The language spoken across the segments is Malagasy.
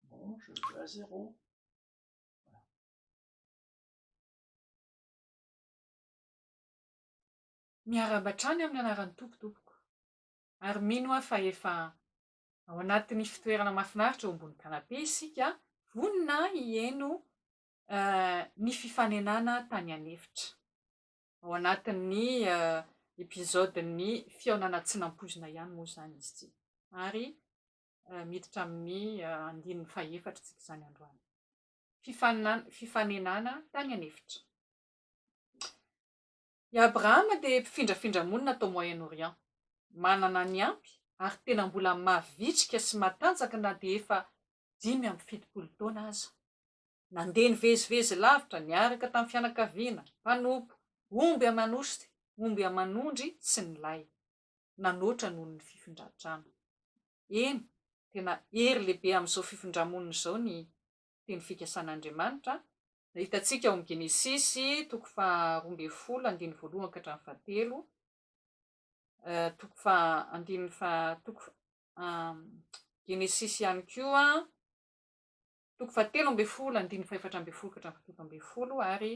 Bon, je le fais à zéro. Miarahaba hatrany amin'ny anaran'ny Tompo tompoko. Ary mino aho fa efa ao anatin'ny fitoerana mahafinaritra eo ambony canapé isika, vonona hihaino ny fifanenana tany an'efitra. Ao anatin'ny episode-n'ny fihaonana tsy nampoizina ihany moa izany izy ity. Ary miditra amin'ny andininy fahefatra isika izany androany. Fifaninana, fifanenana tany an'efitra. I Abrahama dia mpifindrafindra monina tao Moyen-Orient. Manana ny ampy ary tena mbola mavitrika sy matanjaka na dia efa dimy amby fitopolo taona aza. Nandeha nivezivezy lavitra niaraka tamin'ny fianakaviana, mpanompo omby aman'osy, omby aman'ondry sy ny lay. Nanoatra noho ny fifindran-trano. Eny, tena hery lehibe amin'izao fifindra-monina izao ny Teny fikasan'Andriamanitra, hitantsika ao amin'ny Genesisy toko faharoa ambin'ny folo andininy voalohany ka hatramin'ny fahatelo, toko faha andininy faha toko Genesisy ihany koa, toko fahatelo ambin'ny folo, andininy fahefatra ambin'ny folo ka hatramin'ny fahafito ambin'ny folo, ary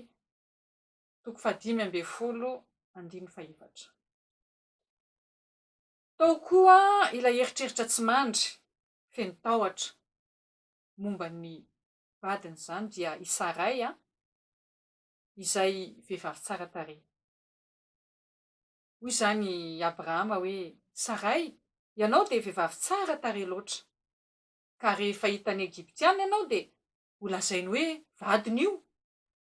toko fahadimy ambin'ny folo, andininy fahefatra. Tao koa ilay eritreritra tsy mandry, feno tahotra, momba ny vadiny, izany dia i Saray, izay vehivavy tsara tarehy. Hoy izany i Abrahama hoe, Saray, ianao dia vehivavy tsara tarehy loatra. Ka rehefa hitan'ny Egyptiana ianao dia holazainy hoe vadiny io,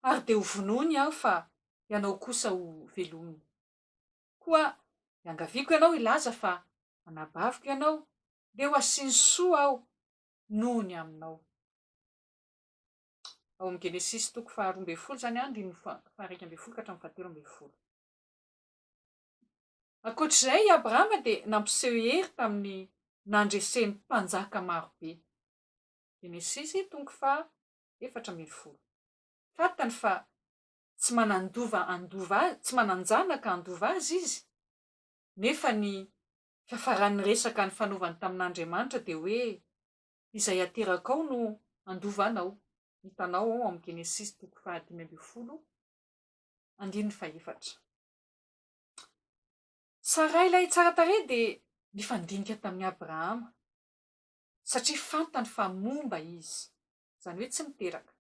ary dia hovonoiny aho fa ianao kosa hovelominy. Koa iangaviako ianao hilaza fa anabaviko ianao, dia ho asiany soa aho noho ny aminao. Ao amin'ny Genesisy toko faharoa ambin'ny folo izany, andininy faha-iraika ambin'ny folo ka hatramin'ny fahatelo ambin'ny folo. Ankoatra izay, i Abrahama dia nampiseho hery tamin'ny nandreseny mpanjaka maro be. Genesisy toko faha efatra ambin'ny folo. Fantany fa tsy manan-dova handova azy, tsy manan-janaka handova azy izy, nefa ny fiafaran'ny resaka nifanaovany tamin'Andriamanitra dia hoe, Izay aterakao no handova anao. Hitanao ao amin'ny Genesisy toko faha dimy ambin'ny folo andininy fahefatra. Saray ilay tsara tarehy dia nifandinika tamin'i Abrahama, satria fantany fa momba izy, izany hoe tsy miteraka.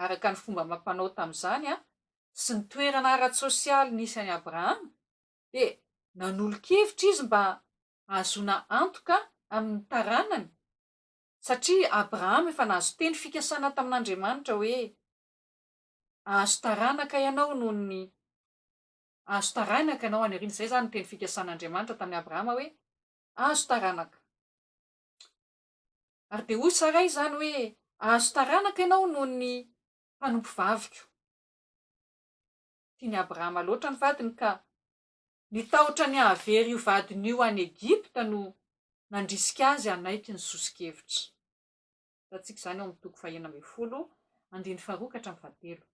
Araka ny fomba amam-panao tamin'izany sy ny toerana ara-tsosialy nisy an'i Abrahama, dia nanolo-kevitra izy mba hahazoana antoka amin'ny taranany, satria Abrahama efa nahazo teny fikasana tamin'Andriamanitra hoe, Azo taranaka ianao noho ny Azo taranaka ianao any aoriana. Izay izany ny teny fikasan'Andriamanitra tamin'i Abrahama hoe, Azo taranaka. Ary dia hoy Saray izany hoe, Azo taranaka ianao noho ny mpanompovaviko. Tian'i Abrahama loatra ny vadiny ka nitahotra ny hahavery io vadiny io any Egypta no nandrisika azy hanaiky ny soso-kevitra. Hitantsika izany ao amin'ny toko fahenina ambin'ny folo, andininy faharoa ka hatramin'ny fahatelo.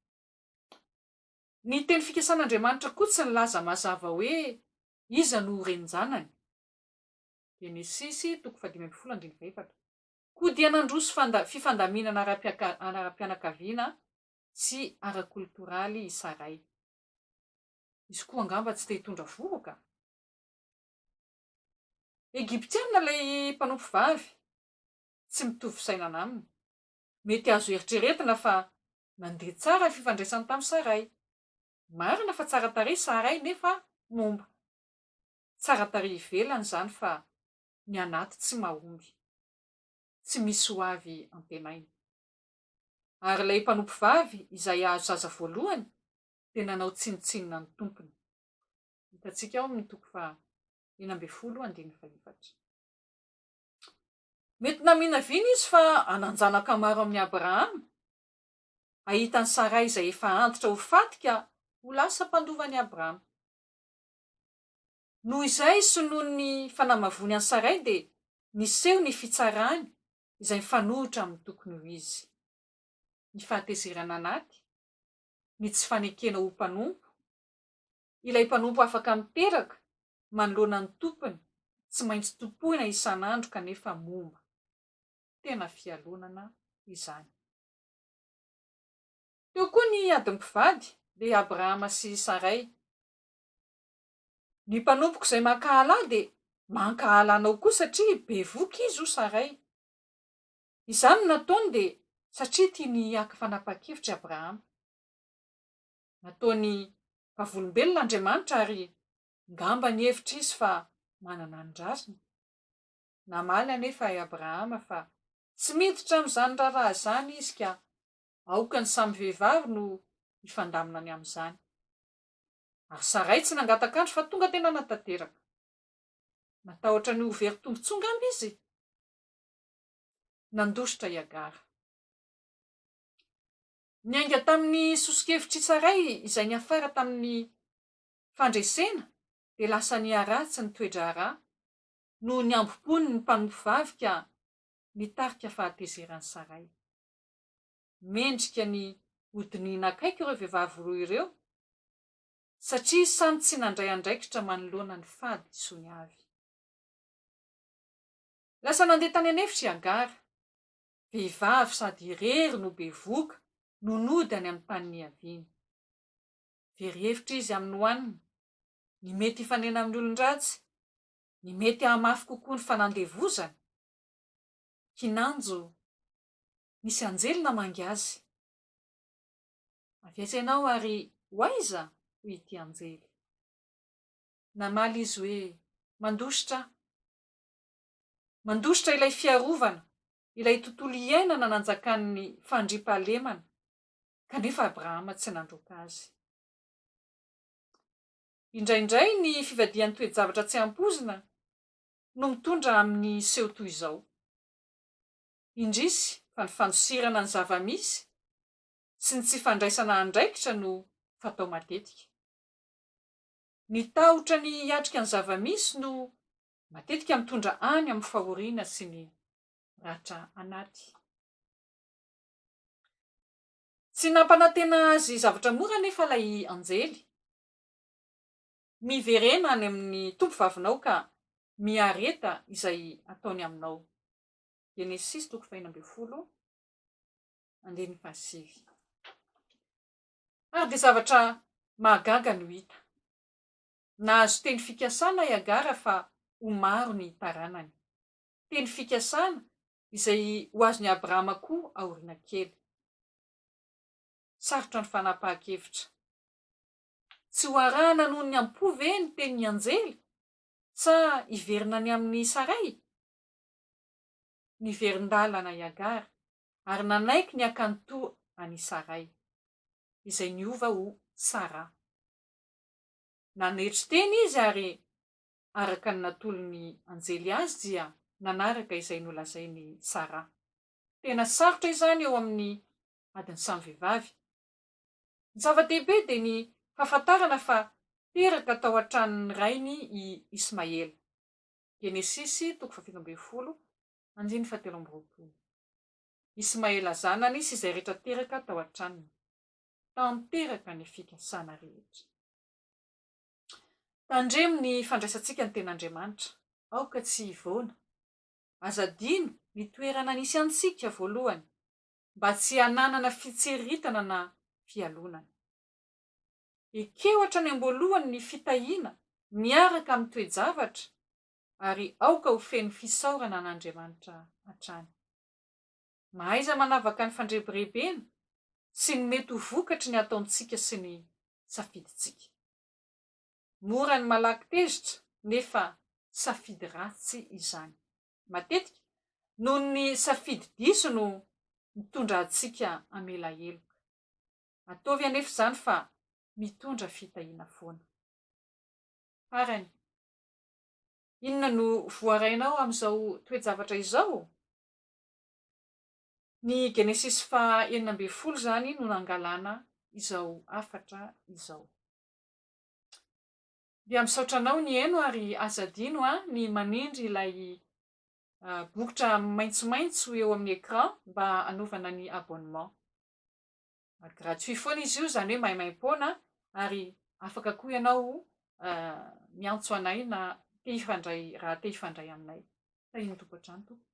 Ny teny fikasan'Andriamanitra koa tsy nilaza mazava hoe iza no ho renin-janany. Genesisy toko fahadimy ambin'ny folo andininy fahefatra. Koa dia nandroso fifandaminana ara-pianakaviana sy ara-koltoraly i Saray. Izy koa angamba tsy te hitondra vohoka? Egyptiana ilay mpanompovavy, tsy mitovy fisainana aminy. Mety azo eritreretina fa nandeha tsara ny fifandraisany tamin'i Saray. Marina fa tsara tarehy Saray nefa momba. Tsara tarehy ivelany izany fa ny anaty tsy mahomby. Tsy misy ho avy antenaina. Ary ilay mpanompovavy izay hahazo zaza voalohany dia nanao tsinontsinona ny tompony. Hitantsika ao amin'ny toko faha enina ambin'ny folo andininy faha efatra. Mety naminavina izy fa hanan-janaka maro amin'i Abrahama, hahita an'i Saray izay efa antitra ho faty ka ho lasa mpandovan'i Abrahama. Noho izay sy noho ny fanamavoany an'i Saray dia niseho ny fitsarany izay mifanohitra amin'ny tokony ho izy. Ny fahatezerana anaty, ny tsy fanekena ho mpanompo, Ilay mpanompo afaka miteraka manoloana ny tompony tsy maintsy tompoina isan'andro kanefa momba. Tena fialonana izany. Teo koa ny ady mpivady, dia Abrahama sy Saray. Ny mpanompoko izay mankahala ahy dia mankahala anao koa satria bevoka izy, hoy Saray. Izany no nataony dia satria tiany haka fanapahan-kevitra i Abrahama. Nataony vavolombelona Andriamanitra ary ngamba nihevitra izy fa manana ny rariny. Namaly anefa i Abrahama fa tsy miditra amin'izany raharaha izany izy ka aoka ny samy vehivavy no hifandamina ny amin'izany. Ary Saray tsy nangataka-andro fa tonga dia nanatanteraka. Natahotra ny ho very tombontsoa ngamba izy? Nandositra i Hagara. Niainga tamin'ny soso-kevitr'i Saray izay niafara tamin'ny fandresena dia lasa niharatsy ny toe-draharaha noho ny hambom-pon'ny mpanompo vavy ka nitarika fahatezeran'i Saray. Mendrika ny hodinihina akaiky ireo vehivavy roa ireo satria samy tsy nandray andraikitra manoloana ny fahadisoany avy. Lasa nandeha tany an'efitra i Hagara. vehivavy sady irery no bevohoka no nody any amin'ny tany niaviany. Very hevitra izy amin'ny hohanina, ny mety hifanena amin'ny olon-dratsy, ny mety hahamafy kokoa ny fanandevozana. Kinanjo, Nisy anjely namangy azy. Avy aiza ianao ary ho aiza? hoy ity anjely. Namaly izy hoe, Mandositra aho. Mandositra ilay fiarovana, ilay tontolo iainana nanjakan'ny fandriampahalemana, kanefa Abrahama tsy nandroaka azy. Indraindray ny fivadihan'ny toe-javatra tsy ampoizina no mitondra amin'ny seho toy izao. Indrisy fa ny fandosirana ny zava-misy sy ny tsy fandraisana andraikitra no fatao matetika. Ny tahotra ny hiatrika ny zava-misy no matetika mitondra any amin'ny fahoriana sy ny ratra anaty. Tsy nampanantena azy zavatra mora anefa ilay anjely. Miverena any amin'ny tompovavinao ka miareta izay ataony aminao. Genesisy toko faheno ambin'ny folo, andininy fahasivy. Ary dia zavatra mahagaga no hita. Nahazo teny fikasana i Hagara fa ho maro ny taranany. Teny fikasana izay ho azon'i Abrahama koa aoriana kely. Sarotra ny fanapahan-kevitra. Tsy ho arahana noho ny am-po ve ny tenin'ny anjely, sa hiverina any amin'i Saray? Niverin-dalana i Hagara ary nanaiky ny hakany toa an'i Saray, izay niova ho Sara. Nanetry tena izy ary araka ny natolon'ny anjely azy dia nanaraka izay nolazain'i Saraha. Tena sarotra izany eo amin'ny adin'ny samy vehivavy. Ny zava-dehibe dia ny fahafantarana fa teraka tao an-tranon'ny rainy i Ismaela. Genesisy toko fahafito ambin'ny folo, andininy fahatelo amby roapolo. Ismaela zanany sy izay rehetra teraka tao an-tranony. tanteraka ny fikasana rehetra. Tandremo ny fandraisantsika ny Tenin'Andriamanitra, aoka tsy hivoana. Aza adino ny toerana nisy antsika voalohany, mba tsy hananana fitseritana na fialonana. Ekeo hatrany am-boalohany ny fitahiana miaraka amin'ny toe-javatra, ary aoka ho feno fisaorana an'Andriamanitra hatrany. Mahaiza manavaka ny fandrebirebena sy ny mety ho vokatry ny ataontsika sy ny safidintsika. Mora ny malaky tezitra nefa safidy ratsy izany. Matetika, noho ny safidy diso no mitondra antsika hamela heloka. Ataovy anefa izany fa mitondra fitahiana foana. Farany, inona no voarainao amin'izao toe-javatra izao? Ny Genesisy faha enina ambin'ny folo izany no nangalana izao hafatra izao. Dia misaotra anao nihaino ary aza adino an ny manindry ilay bokotra maintsomaintso eo amin'ny écran mba hanaovana ny abonnement. Gratuit foana izy io izany hoe maimaimpoana ary afaka koa ianao miantso anay na te hifandray raha te hifandray aminay. Tahian'ny Tompo hatrany tompoko.